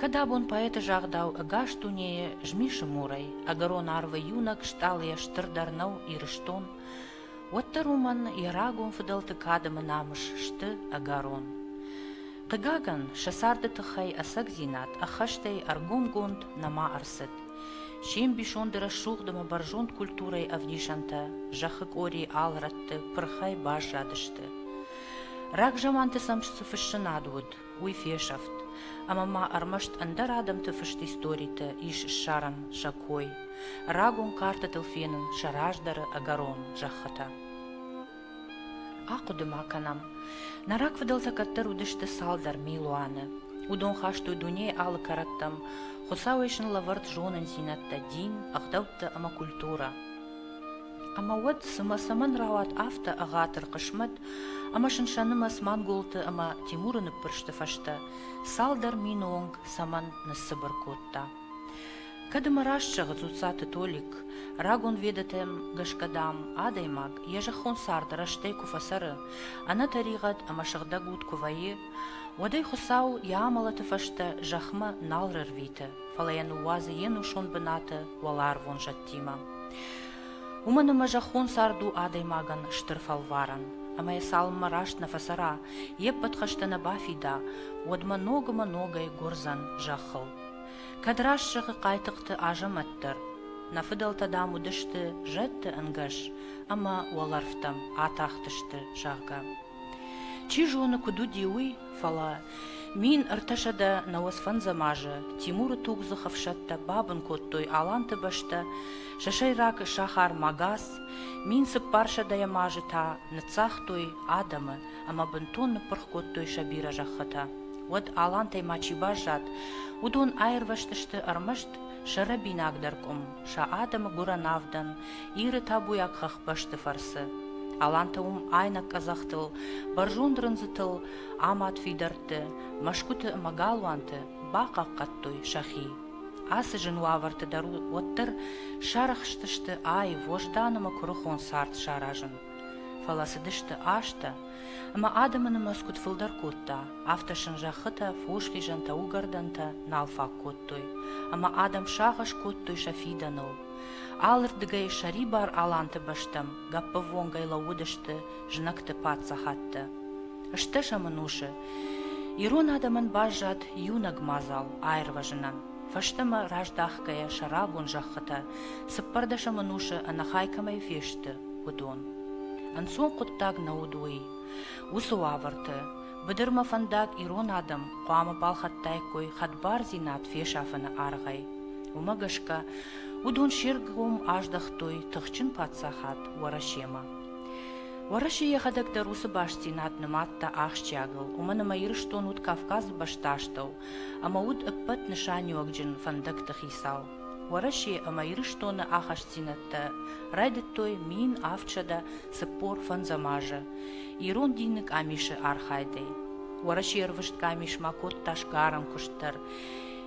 Кӕд абон поэты загъдау ӕгас дунейы змисы мурӕй ӕгӕрон арвы иунӕг стъалыйӕ стырдӕр нӕу Ирыстон, уӕддӕр уымӕн йӕ рагон фыдӕлты кадӕмы намыс сты ӕгӕрон. Хъыгагӕн, сӕ царды тыххӕй ӕцӕгдзинад ӕххӕстӕй ӕргомгонд нӕма ӕрцыд. се мбисонды рӕсугъдымӕ бӕрзонд культурӕйы ӕвдисӕнтӕ зӕххы къори алрӕтты пырхӕй баззадысты. Рагзаманты сӕм цы фыссынад уыд, уый фесӕфт, ӕмӕ ма ӕрмӕст ӕндӕр адӕмты фыст историты ис ссарӕн сӕ кой, рагон картӕтыл фенын сӕ раздӕры ӕгӕрон зӕххытӕ. Ахъуыды ма кӕнӕм, нӕ рагфыдӕлтӕ кӕддӕр уыдысты цалдӕр милуаны. Уыдон хастой дунейы алы кӕрӕттӕм, Хуыцауӕй сын лӕвӕрд зонындзинӕдтӕ, дин, ӕгъдӕуттӕ ӕмӕ культурӕ. Ӕмӕ уӕд цымӕ цӕмӕн рауад афтӕ ӕгъатыр хъысмӕт ӕмӕ сынсӕнымӕц манголты ӕмӕ Тимуры ныппырсты фӕстӕ цалдӕр мины онг цӕмӕн ныссыбыр кодта? Кӕд ӕмӕ раст зӕгъы Дзуццаты Толик, рагон ведӕтӕм гӕсгӕ, дам, адӕймаг йӕ зӕххон цард рӕстӕй куы фӕцӕры, ӕнӕтӕригъӕд ӕмӕ сыгъдӕгуд куы вӕййы, уӕд ӕй Хуыцау йӕ амӕлӕты фӕстӕ зӕхмӕ нал рӕрвиты, фӕлӕ йӕ ныууадзы йе нусон бынаты уӕларвон зӕдтӕм. тимӕ. Уымӕн ӕмӕ зӕххон цард у адӕймагӕн стыр фӕлварӕн, ӕмӕ йӕ цалынмӕ раст нӕ фӕцӕра, йе ппӕт хӕстӕ нӕ бафида, уӕдмӕ ног ӕмӕ ногӕй гуырдзӕн зӕххыл. Кӕд раст зӕгъы Хъайтыхъты Азӕмӕт дӕр, Нӕ фыдӕлтӕ, дам, уыдысты зӕдты ӕнгӕс ӕмӕ уӕлӕрвтӕм атахтысты, зӕгъгӕ. Чи зоны, куыд уыди уый, фӕлӕ Мин ӕртӕсӕдӕ нӕуӕдзфӕндзӕм азы Тимуры тугдзых ӕфсӕдтӕ бабын кодтой Аланты бӕстӕ, сӕ сӕйраг сахар Магас, мин цыппарсӕдӕм азы та ныццагътой адӕмы ӕмӕ бынтон ныппырх кодтой сӕ бирӕ зӕххытӕ. Уӕд Алантӕй ма чи баззад, уыдон аирвӕзтысты ӕрмӕст сӕ рӕбинагдӕр къуым, сӕ адӕмы гуырӕн авдӕн, Иры табуйаг хӕхбӕсты фӕрцы. Алантӕ уым айнӕг къӕдзӕхтыл, бӕрзонд рындзытыл амад фидӕртты, мӕсгуыты ӕмӕ галуанты бахъахъхъӕдтой сӕхи. Ацы зын уавӕрты дӕр уӕддӕр сарӕхстысты аив Вождан ӕмӕ куырыхон цард саразын. Фӕлӕ цыдысты азтӕ, ӕмӕ адӕмы нымӕцгуыт фылдӕр кодта, афтӕ сын зӕххытӕ, фосхизӕнтӕ, уыгӕрдӕнтӕ нал фаг кодтой, ӕмӕ адӕм сагъӕс кодтой сӕ фидӕныл. Алырдыгӕй сӕрибар аланты бӕстӕм гӕппӕввонгӕй лӕууыдысты знӕгты паддзахадтӕ. Стӕ сӕ мын усы. Ирон адӕмӕн баззад иунӕг мадзал аирвӕзынӕн. Фӕстӕмӕ раздахгӕйӕ сӕрабон зӕххытӕ цыппӕрдӕсӕм ӕнусы ӕнӕхай кӕмӕй фесты, уыдон. Ӕнцон хъуыддаг нӕ уыд уый. Уыцы уавӕрты быдырмӕ фӕндаг ирон адӕм хъуамӕ балхӕдтаиккой хӕдбардзинад фесафыны аргъӕй. Уымӕ гӕсгӕ уыдон се ргом аздӕхтой тыхджын паддзахад Уӕрӕсемӕ. Уӕрӕсе йӕхӕдӕг дӕр уыцы бастдзинад нымадта ахсджиагыл, уымӕн ӕмӕ Ирыстон уыд Кавказы бӕстастӕу ӕмӕ уыд ӕппӕт нысаниуӕгджын фӕндӕгты хицау. Уӕрӕсе ӕмӕ Ирыстоны ахастдзинӕдтӕ райдыдтой мин авдсӕдӕ цыппор фӕндзӕм азы ирон дины къамисы архайдӕй. Уӕрӕсе ӕрвыст къамис ма кодта сгарӕн куыст дӕр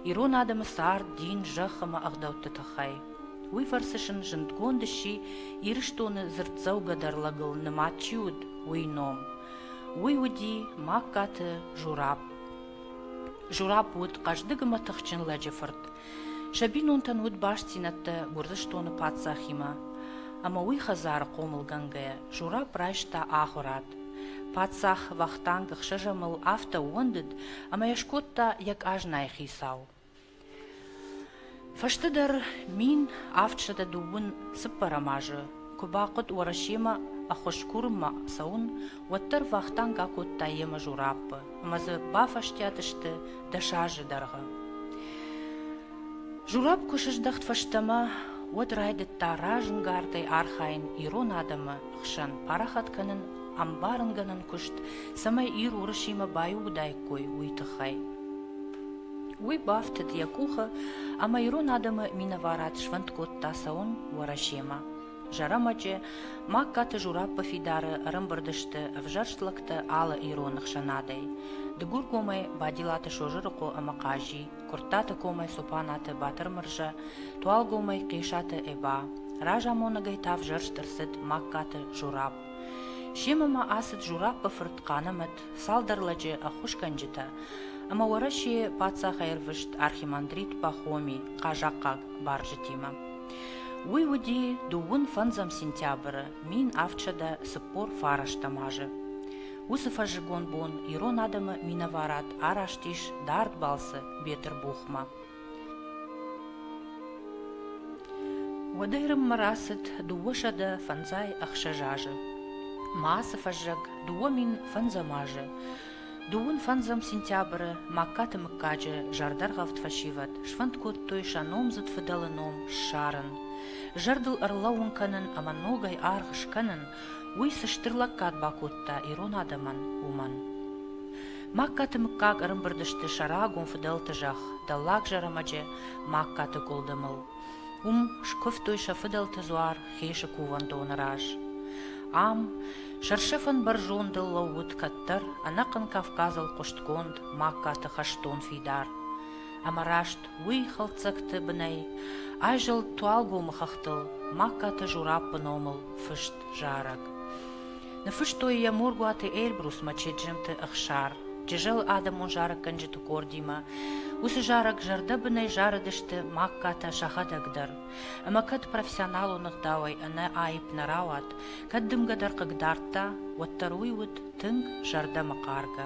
ирон адӕмы цард, дин, зӕхх ӕмӕ ӕгъдӕутты тыххӕй. Уый фӕрцы сын зындгонд сси, Ирыстоны дзырддзӕугӕдӕр лӕгыл нымад чи уыд, уый ном. Уый уыди Магкаты Жураб. Жураб уыд хъӕздыг ӕмӕ тыхджын лӕджы фырт. Сӕ бинонтӕн уыд бастдзинӕдтӕ Гуырдзыстоны паддзахимӕ. Ӕмӕ уый хӕдзары хъомылгӕнгӕйӕ Жураб райста ахуырад. Паддзах Вахтанг ӕхсӕзӕмыл афтӕ ууӕндыд, ӕмӕ йӕ скодта йӕ къазнайы хицау. Фӕстӕдӕр мин авд сӕдӕ дыууын цыппӕрӕм азы куы бахъуыд Уӕрӕсемӕ ӕххуыскурынмӕ цӕуын, уӕддӕр Вахтанг акодта йӕ мажораппы ӕмӕ дзы бафӕстиат сты дӕс азы дӕргъы. Журапп куы сыздӕхт фӕстӕмӕ, уӕд райдыдта разӕнгардӕй архайын ирон адӕмы хсӕн парахат кӕнын ӕмбарынгӕнӕн куыст, цӕмӕй Ир Уырысимӕ баиугъуыдаиккой, уый тыххӕй. Уый бафтыд йӕ къухы ӕмӕ ирон адӕмы минӕварад сфӕнд кодта цӕуын Уӕрӕсемӕ. Зӕрӕмӕджы Магкаты Жураппа фидары ӕрӕмбырд сты ӕвзӕрст лӕгтӕ алы ироны хсӕнадӕй: Дыгургомӕй Бадилаты Созырыхъо ӕмӕ Хъази, Куырттаты комӕй Цопанаты Батырмырза, Туалгомӕй Хъесаты Эба. Разамонӕгӕй та ӕвзӕрст ӕрцыд Магкаты Журапп. Семӕ ма ацыд Жураппы фырт Хъанымӕт цалдӕр лӕджы ӕххуысгӕнджытӕ ӕмӕ Уӕрӕсейы паддзахӕй ӕрвыст архимандрит Пахоми хъазахъхъаг барджытимӕ. Уый уыди дыууын фӕндзӕм сентябры мин авдсӕдӕ цыппор фарӕстӕм азы. Уыцы фӕззыгон бон ирон адӕмы минӕварад араст ис дард балцы Бетырбухмӕ. Уӕдӕй Рыммӕ рацыд дыууӕсӕдӕ фӕндзай ӕхсӕз азы. Ма ацы фӕззӕг дыууӕ мин фӕндзӕм азы, дыууын фӕндзӕм сентябры Магкаты мыггаджы зӕрдӕргъӕвд фӕсивӕд сфӕнд кодтой сӕ номдзыд фыдӕлы ном ссарын, зӕрдыл ӕрлӕууын кӕнын ӕмӕ ногӕй аргъ скӕнын, уый цы стыр лӕггад бакодта ирон адӕмӕн, уымӕн. Магкаты мыггаг ӕрымбырд сты сӕ рагон фыдӕлты зӕхх, Дӕллаг Зӕрӕмӕджы Магкаты гуылдымыл. Уым скуывтой сӕ фыдӕлты дзуар Хесы кувӕндоны раз. Ам, сӕрсӕфӕн бӕрзондыл лӕууыд кӕддӕр ӕнӕхъӕн Кавказыл хъуыстгонд Магкаты хӕстон фидар. Ӕмӕ раст уый хӕлддзӕгты бынӕй айзӕлд Туалгомы хӕхтыл Магкаты Жураппы номыл фыст зарӕг. Ныфыстой йӕ Моргуаты Эльбрусмӕ Чеджемты Ӕхсар. Джызӕлы адӕмон зарӕггӕнджыты къордимӕ. Уыцы зарӕг зӕрдӕбынӕй зарыдысты Магкатӕ сӕхӕдӕг дӕр. Ӕмӕ кӕд профессионалон ӕгъдауӕй ӕнӕ аипп нӕ рауад, кӕд дымгӕ дӕр хъыг дардта, уӕддӕр уый уыд тынг зӕрдӕмӕхъаргӕ.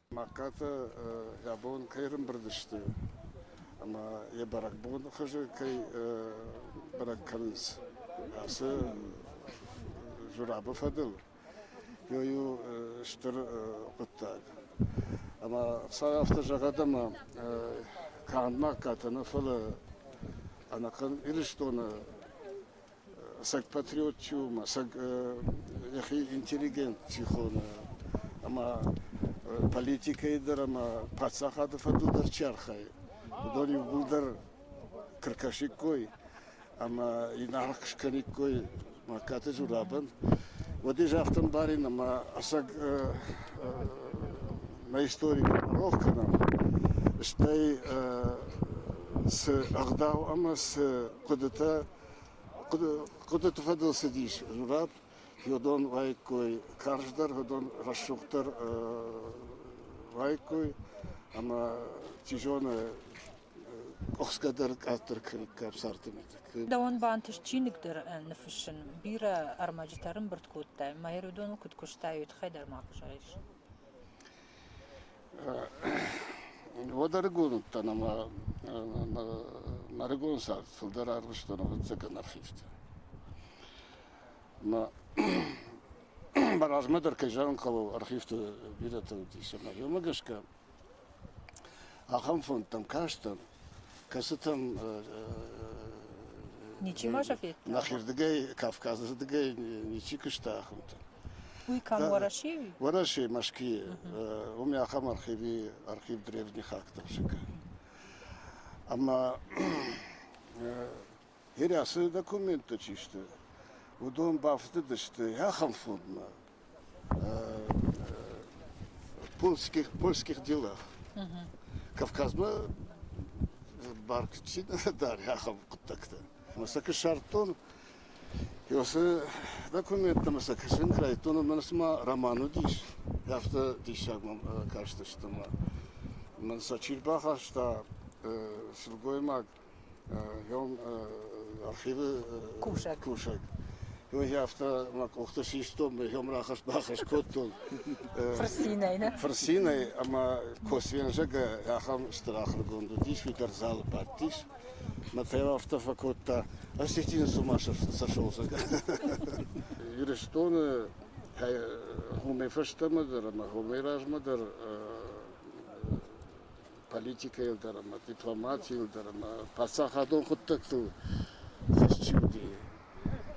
Мӕгкатӕ йӕ бон кӕй ӕрымбырд сты ӕмӕ йӕ бӕрӕгбоны хуызы кӕй бӕрӕг кӕнынц ацы журабы фӕдыл, ёй у стыр хъуыддаг. Ӕмӕ Хуыцау афтӕ зӕгъӕд ӕмӕ канд Мӕгкатӕ нӕ, фӕлӕ ӕнӕхъӕн Ирыстоны саг патриоттиу ма саг йӕхи интеллигенти хоны ӕмӕ политикӕйы дӕр ӕмӕ паддзахады фӕдыл дӕр чи архайы, уыдон иууылдӕр кыркӕсиккой ӕмӕ инаргъ скӕниккой Маккаты Журабӕн. Уӕди загътам барин ӕмӕ ӕцӕг нӕ историк рох кӕнӕм, стӕй цы ӕгъдау ӕмӕ цы хъуыдытӕ Хъуыдыты фӕдыл цыдис журап, йодон уаиккой, карздӕр, йодон рӕсугъддӕр уаиккой ӕмӕ чи зоны къухсгӕ дӕр къаддӕр кӕниккам сӕрты мидӕг. Дӕуӕн бантыст чиныгдӕр ныффыссын. Бирӕ ӕрмӕджытӕ рымбырд кодтай, мӕ Ирыдоныл куыд куыстай, уый тыххӕй дӕр ма куы зарис. Уӕд ӕрыгон уыдтӕн ӕмӕ мӕ ӕрыгон цард фылдӕр арвыстон ӕвӕццӕгӕн архивты. Ӕмӕ мӕ размӕ дӕр, кӕй зӕгъын хъӕуы, архивты бирӕтӕ уыдис, ӕмӕ уымӕ гӕсгӕ Ахӕм фондтӕм кастӕн, кӕцытӕм ничи ма федта. Нахирдыгӕй, Кавказы рдыгӕй ничи куыста ахӕмтӕ. Уый кӕм Уӕрӕсейы уи? Уӕрӕсе, Мӕсквийы. Уым ахӕм архиви архив древних актов сӕ кӕны. Ӕмӕ Ирӕсы документтӕ чи сты, уыдон бафтыдысты ахӕм формӕ польских, польских делах. Кавказмӕ барг чи дари ахӕм хъуыддӕгтӕ. Ӕмӕ сӕ куы ссардтон, уыцы документтӕ мӕ сӕ кӕсын кӕй райдыдтон, ӕмӕ цыма роман уыдис, афтӕ диссаг мӕм кастысты мӕ. Мӕн сӕ чи рбахаста, сылгоймаг Йон архивы кусӕг. кусӕг. Я афтӕ мӕ къухты систон, йом рахӕс-бахӕс кодтон. Фырцинӕй, нӕ? Фырцинӕй ӕмӕ Косвензӕгӕ ахӕм стыр ахуыргонд уыдис, уый дӕр залы бадтис. Мӕ та йыл афтӕ фӕкодта, осетины с ума сошелзӕг. Ирыстоны хомӕй фӕстӕмӕ дӕр ӕмӕ хомӕй размӕ дӕр политикӕйыл дӕр ӕмӕ дипломатийыл дӕр ӕмӕ паддзахадон хъуыддӕгтыл фыст чи уыди,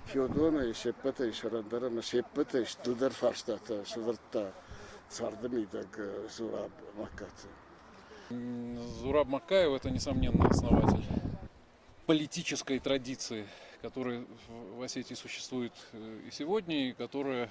Феодонӕй се ппӕтӕй сӕрӕндӕр ӕмӕ се ппӕтӕй стылдӕр фарстатӕ сӕвӕрдта царды мидӕг Зураб Маккаты. Зураб Маккаев – это, несомненно, основатель политической традиции, которая в Осетии существует и сегодня, и которая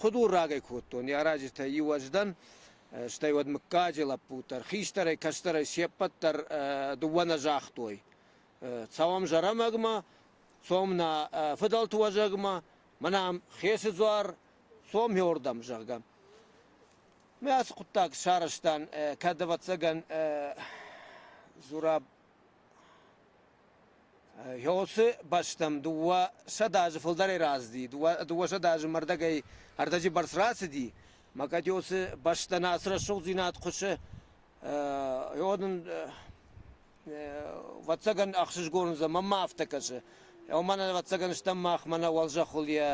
Худуррагӕй кодтон йӕ раджытӕй иу уӕздан, стӕй уӕд мыггаджы лӕппут дӕр, хистӕрӕй, кӕстӕрӕй се ппӕт дӕр дыууӕ нӕ загътой. Цӕуӕм Зӕрӕмӕгмӕ, цом нӕ фыдӕлты уӕзӕгмӕ, мӕнӕм Хесы дзуар, цом хиуырдӕм, зӕгъгӕ. Мӕ ацы хъуыддаг сарӕзтан, кӕд, ӕвӕццӕгӕн, Зураб Йоцы бӕстӕм дыууӕсӕдз азы фылдӕрӕй рацыди, дыууӕсӕдз азы мӕрдӕгӕй ӕрдӕджы бӕрц рацыди, мӕ кӕд Йоцы бӕстӕн ацы рӕсугъддзинад хъуысы, йод ын, ӕвӕццӕгӕн, ӕхсызгон уыдзӕн, мӕн ма афтӕ кӕсы. Уымӕн ӕвӕццӕгӕн стӕм мах, мӕнӕ уӕлзӕххыл йӕ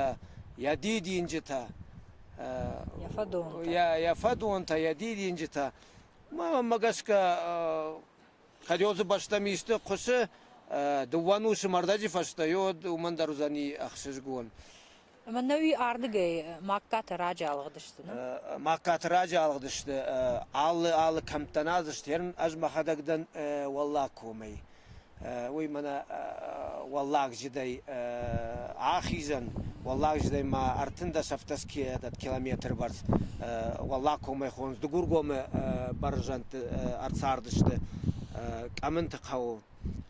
йӕ дидинджытӕ. Йӕ фӕдонтӕ. Йӕ фӕдонтӕ, йӕ дидинджытӕ. Мӕнмӕ гӕсгӕ Ходёзы бӕстӕм исты хъуысы, дыууӕнусы мӕрдӕджы фӕстӕ уӕд уымӕн дӕр уыдзӕни ӕхсызгон. Мӕнӕуи ардыгӕй Магкаты раджы алыгъдысты, нӕ? Магкаты раджы алыгъдысты. Алы алы кӕмттӕн аз стӕрын, ӕз мӕхӕдӕг дӕн Уӕллаг комӕй. Уый мӕнӕ уӕллагджыдӕй ахизӕн. Уӕллагджыдӕй ма ӕртындӕс-ӕфтӕс километры бӕрц Уӕллагкомӕ хондз Дыгургомы бӕрзӕндты ӕрцардысты Къӕмынты хъӕуы.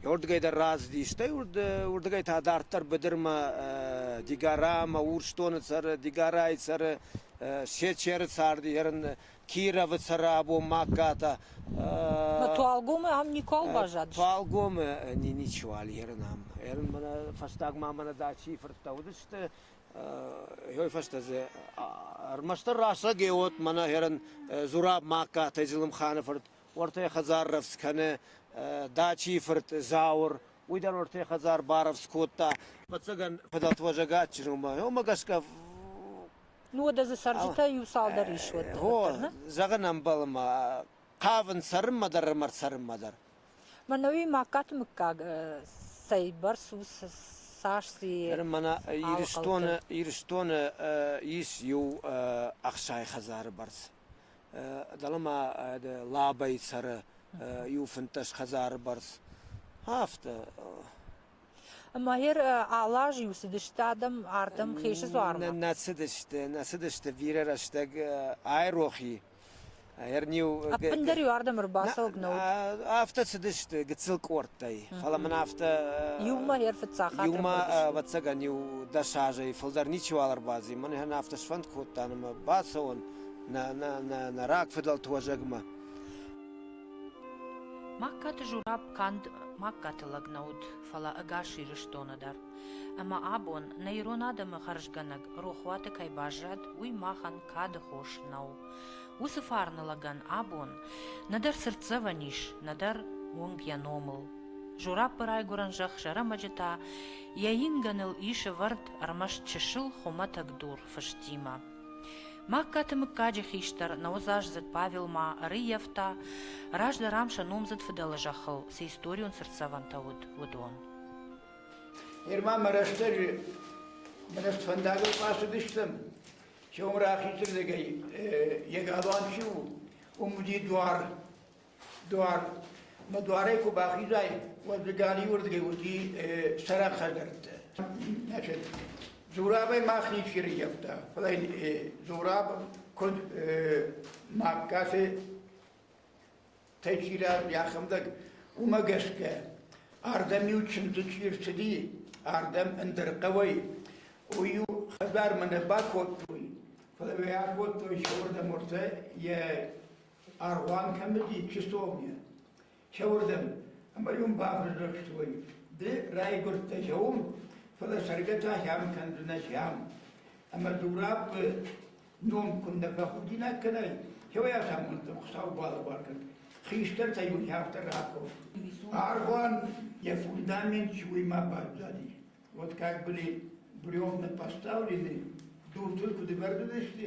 Уырдыгӕй дӕр рацыди, стӕй уырдыгӕй та дарддӕр быдырмӕ Дигорамӕ, Урсдоны цӕры, Дигорайы цӕры, Сечеры царди, ерын Кировы цӕры абон Магката. Туалгомы ам никуал баззадис? Туалгомы ничиуал ерын ам. Ерын мӕнӕ фӕстагмӕ мӕнӕ Дачийы фырттӕ уыдысты, Уой фӕстӕ дзы ӕрмӕстдӕр рацӕг ӕй уот мӕнӕ херӕн Зураб-Магкатӕй Зелымханы фырт уӕртӕ хӕдзар рӕвдз кӕны, Дачийи фырт Зауыр, уый дӕр уӕртӕ хӕдзар барӕвдз кодта. Фӕццӕгӕн фӕдӕтвӕзӕг адджын уомӕ, уомӕ гӕсгӕ Ну уӕдӕ дзы цӕрджытӕ иу цалдӕр ис уӕд. О, зӕгъын ӕмбӕлы мӕ, хъавын цӕрынмӕ дӕр ӕмӕ цӕрынмӕ дӕр. Мӕнӕуи Магкаты мыггаг цӕйбӕрц у цас и Мӕнӕ Ирыстоны Ирыстоны ис иу ӕхсай хӕдзары бӕрц. Дӕлӕ ма Лабӕйы цӕры иу фынддӕс хӕдзары бӕрц. Афтӕ. Ӕмӕ йӕр алы аз-иу цыдысты адӕм ардӕм хъесы дзуармӕ? Нӕ цыдысты, нӕ цыдысты бирӕ рӕстӕг айрохи. Ӕппындӕр-иу ардӕм ӕрбацӕуӕг нӕ уыд. Афтӕ цыдысты гыццыл къордтӕй, фӕлӕ мын афтӕ. Иумӕ дӕр фыццаг хатт Иумӕ, ӕвӕццӕгӕн-иу дӕс азӕй фылдӕр ничиуал ӕрбаци. Мӕн йӕ афтӕ сфӕнд кодта, ӕмӕ бацӕуон нӕ рагфыдӕлты уӕзӕгмӕ. Магкаты Жураб канд Магкаты лӕг нӕ уыд, фӕлӕ ӕгас Ирыстоны дӕр. Ӕмӕ абон, нӕ ирон адӕмы хӕрзгӕнӕг рохуаты кӕй баззад, уый махӕн кады хос нӕу. Уыцы фарны лӕгӕн абон нӕдӕр цыртдзӕвӕн ис, нӕдӕр уынг йӕ номыл. Жураппы райгуырӕн зӕхх Зӕрӕмӕджы та йӕ ингӕныл ис ӕвӕрд ӕрмӕст чысыл хуымӕтӕг дур фыстимӕ. Магкаты мыггаджы хистӕр нӕудзаздзыд Павелмӕ ӕрыййӕфта, раздӕр ам сӕ номдзыд фыдӕлы зӕххыл цы историон цыртдзӕвӕнтӕ уыд, уыдон. Герман мӕ рӕстӕджы мӕ фӕндагыл куы ацыдыстӕм, чъом рахизырдыгӕй йӕ галуан чи у, уым уыди дуар. Дуар. Мӕ дуарӕй куы бахизай, уӕд ды галиуырдыгӕй уыди сӕрак хӕдзӕрттӕ. Значит, Зурабӕй мах ничи рыййӕфта, фӕлӕ Зураб куыд мӕ кӕсы Течирӕ йӕхӕдӕг уымӕ гӕсгӕ, ардӕм-иу чындзы чи рцыди, ардӕм ӕндӕр хъӕуӕй, уый-иу хӕдзармӕ нӕ бакодтой, фӕлӕ йӕ акодтой сӕ уырдӕм ӕртӕ йӕ Аргъуан кӕмдӕр чувствование. Чауырдӕм. Ӕмӕ уым бафӕдзӕхстой, ды райгуырдтӕ зӕум, фӕлӕ цӕргӕ та сӕм кӕндзынӕ сӕм. Ӕмӕ дурабы ном куыннӕ бахудинаг кӕнай, чауӕй асамонтӕм Хуыцау балӕвар кӕн. Хистӕртӕй уын афтӕ раков. Аргъуан йӕ фундамент чуимӕ баззади. Вот как были бревна поставлены, дуртыл куы дывӕрдыдысты,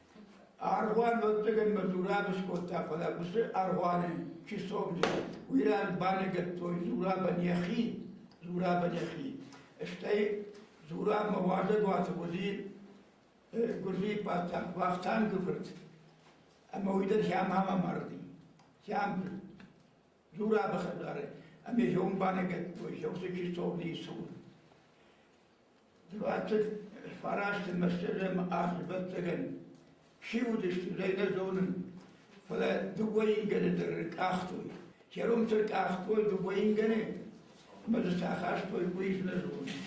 Аргъуан нодтагӕн мӕ дзурӕб скодта, фӕлӕ уыцы аргъуаны чи сомджын, уый ран баныгӕдтой дзурабӕн йӕхи, дзурабӕн йӕхи. Стӕй дзурабмӕ уазӕгуаты уыди гуырдзийы паддзах Вахтанг фырт, ӕмӕ уый дӕр сӕмӕ марди. Сӕм дзурабы хӕдзары, ӕмӕ сӕм баныгӕдтой, сӕ уыцы чи сомдийы цур. Двадцать фарасты мӕстыгӕм ӕхсӕвӕццӕгӕн чи уыдысты, зӕй нӕ зонын, фӕлӕ дыууӕ ингӕны дӕр ркъахтой. Кӕрон цы ркъахтой дыууӕ ингӕны, ӕмӕ дзы цы ахастой, уый нӕ зонын.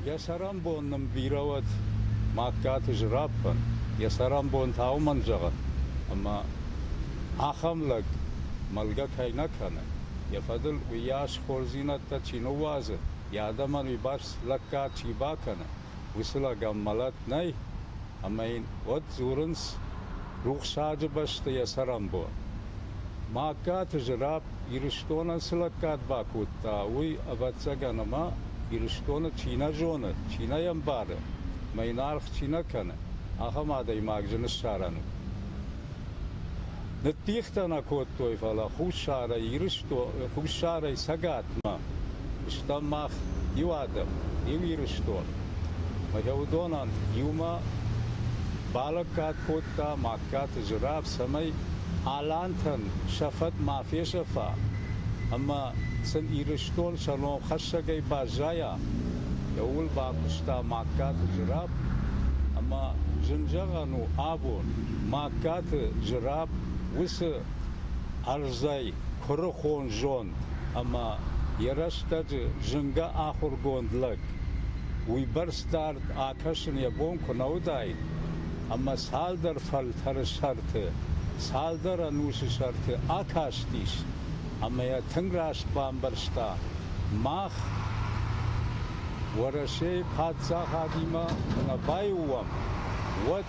Йӕ цӕрӕнбон нын бирӕ уӕд, Магкаты Зыраппӕн, йӕ цӕрӕнбон та уымӕн зӕгъын, ӕмӕ ахӕм лӕг мӕлгӕ кӕй нӕ кӕны, йӕ фӕдыл уыйас хорздзинӕдтӕ чи ныууадзы, йӕ адӕмӕн уыйбӕрц лӕггад чи бакӕны, Уыцылаган мӕлӕт нӕй, ӕмӕ йын уӕд дзурынц рухсаджы бӕсты йӕ цӕрӕнбон. Магкаты Зырапп Ирыстонӕн цы лӕггад бакодта, уый, ӕвӕццӕгӕн, ӕмӕ Ирыстоны чи нӕ зоны, чи нӕ йӕ ӕмбары, ӕмӕ йын аргъ чи нӕ кӕны, ахӕм адӕймаг зын ссарӕн у. Ныддихтӕ нӕ кодтой, фӕлӕ Хуссарӕй Цӕгатмӕ стӕм мах иу адӕм, иу Ирыстон. Фӕлӕ уыдонӕн иумӕ балӕггад кодта Магкаты Зураб, цӕмӕй алантӕн сӕ фӕд ма фесӕфа ӕмӕ сын Ирыстон сӕ ном хӕссӕгӕй баззайа. Ууыл бакуыста Магкаты Зураб ӕмӕ зын зӕгъӕн у абон. Магкаты Зыраб уыцы ӕрдзӕй куырыхон зонд ӕмӕ йӕ рӕстӕджы зынгӕ ахуыргонд лӕг. Уыйбӕрц дард акӕсын йӕ бон куы нӕ уыдаид, ӕмӕ цалдӕр фӕлтӕры сӕрты, цалдӕр ӕнусы сӕрты акастис ӕмӕ йӕ тынг раст бамбӕрста мах, Уӕрӕсейы паддзахадимӕ куы нӕ баиу уӕм, уӕд.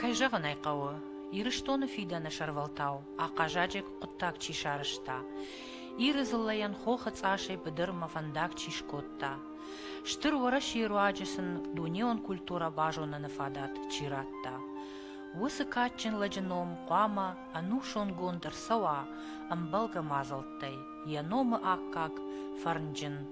Кӕй зӕгъын ӕй хъӕуы, Ирыстоны фидӕны сӕрвӕлтау ахъазаджыг хъуыддаг чи сарӕзта, Иры дзыллӕйӕн хохы цъасӕй быдырмӕ фӕндаг чи скодта, Стыр Уӕрӕсейы руаджы сын дунеон культурӕ базоныны фадат чи радта. Уыцы кадджын лӕджы ном хъуамӕ ӕнусонгонд ӕрцӕуа ӕмбӕлгӕ мадзӕлттӕй, йӕ номы аккаг фӕрнджын